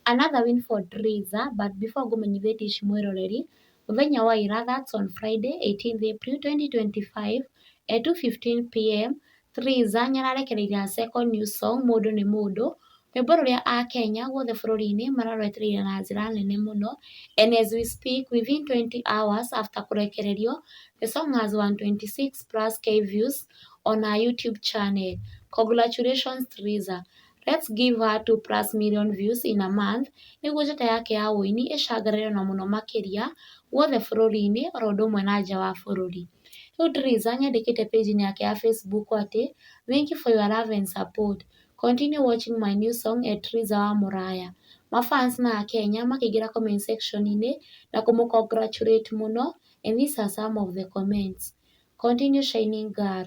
Another win for Triza but before ngũmenyithie Tish mwĩroreri, mũthenya wa ira that's on Friday 18th April 2025 at 2:15pm Triza nĩararekereirie her second new song mũndũ nĩ mũndũ, rwĩmbo rũrĩa akenya guothe bũrũri-inĩ mararwetereire na njĩra nene mũno and as we speak within 20 hours after kũrekererio the song has 126 plus k views on her YouTube channel. Congratulations Triza. Let's give her two plus million views in a month nĩguo njata yake ya ũini ĩcangarare o na mũno makĩria guothe bũrũri-inĩ o ũndũ ũmwe na nja wa bũrũri. Rĩu Drizza nĩ andĩkĩte page inĩ yake ya Facebook atĩ, Thank you for your love and support. Continue watching my new song at Drizza wa Mũraya. Ma fans ma Akenya makĩingĩra comment section inĩ na kũmũ congratulate mũno and these are some of the comments, Continue shining girl,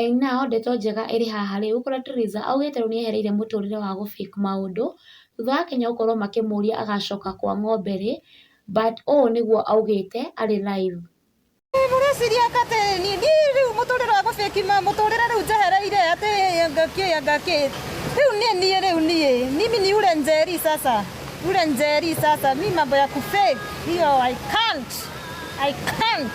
Aina o ndeto njega ĩrĩ haha rĩ, ũgũkora Teresa augĩte rĩu nĩ ehereire mũtũrĩre wa gũ fake maũndũ, thutha wa Akenya gũkorwo makĩmũria agacoka kwa ng'ombe rĩ, but ũũ nĩguo augĩte arĩ live. Hihi mũreciria atĩ niĩ rĩu mũtũrĩre wa gũ fake mũtũrĩre rĩu njehereire atĩ anga kĩ anga kĩ? Rĩu nĩ niĩ rĩu niĩ, mimi ni ule njeri sasa, ule njeri sasa, mi mambo ya ku fake hiyo I can't, I can't.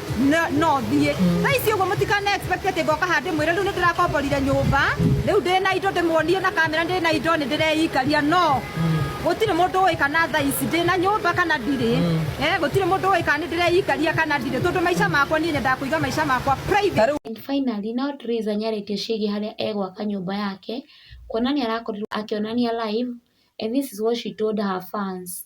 no no thiĩ thaa ici ũguo mũtikane expect atĩ ngoka haha ndĩmwĩre rĩu nĩ ndĩrakomborire nyũmba rĩu ndĩ na indo ndĩmuonie na kamera ndĩ na indo nĩ ndĩreikaria no gũtirĩ mũndũ ũĩ kana thaa ici ndĩ na nyũmba kana ndirĩ Eh, gũtirĩ mũndũ ũĩ kana nĩ ndĩreikaria kana ndirĩ tondũ maica makwa niĩ nyendaga kũiga maica makwa private And finally, now Teresa nĩ arĩtie ciĩgiĩ harĩa egwaka nyũmba yake, kuona nĩ arakorirwo akĩonania live and this is what she told her fans.